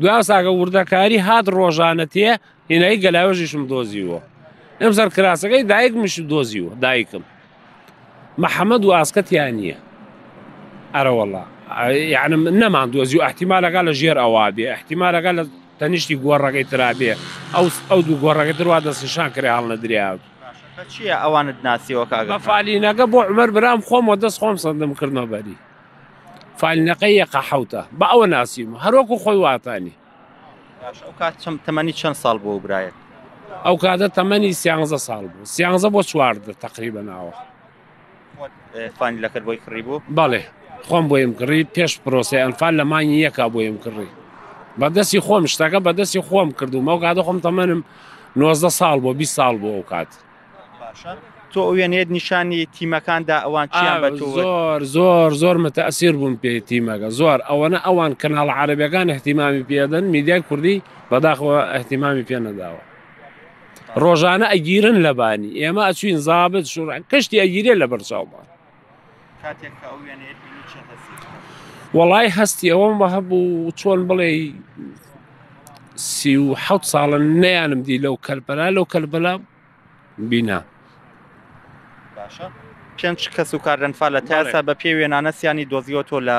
دوای ئەو ساگە وردەکاری هات ڕۆژانە تێ هێنایی گەلاوێژیشم دۆزیوە ئەم سەر کراسەکەی دایکمش دۆزیوە دایکم محەممەد و ئاسکەتیان نییە ئەرەوەڵا یعنی نەمان دۆزی و احتیمالەکە لە ژێر ئەوە بێ احتیمالەکە لە تەنیشتی گۆڕەکەی ترابێ ئەو ئەو دوو گۆڕەکە دروا دەستنیشان کرێ هەڵ نەدریاوت چییە ئەوانت ناسیەوە کاگە فالینەکە بۆ عمەر برام خۆمەوە دەست خۆم سندم کردمە بەری فالنەقە یەقە حەوتە بە ئەوە ناسیم هەروەکو خۆی واتانی. باش ئەو کات چەم تەمەنی چەند ساڵ بۆ برایەت ئەو کاتە تەمەنی سیانزە ساڵ بوو سیانزە بۆ چواردە تقریبە ناوە فانی لەکرد بۆی کڕی بوو بەڵێ خۆم بۆیم کڕی پێش پرۆسی ئەنفال لە مانگی یەکا بۆیم کڕی بەدەستی خۆم شتەکە بەدەستی خۆم کردو مەو کاتە خۆم تەمەنم نۆزدە ساڵ بۆ بی ساڵ بۆ ئەو کات تۆ ئەوێنێت نیشانی تیمەکاندا ئەوان چیان بە تۆ زۆر زۆر زۆر متەسیر بوون پێی تیمەکە زۆر ئەوەنە ئەوان کەناڵ عربەکان احتیمامی پێدەن میدیای کوردی بەداخەوە احتیمامی پێ نەداوە ڕۆژانە ئەگیرن لەبانی ئێمە ئەچوین زابت شوڕ کەشتی ئەگیرێ لە بەرچاومان وەڵای هەستی ئەوەم بە هەبوو چۆن بڵێ سی و حەوت ساڵە نیانم دی لەو کەربەلا لەو کەربەلا بینا پێنج کەس و کاردنفا لە تاسا بە پێ وێنانە سیانی دۆزیۆتۆ لە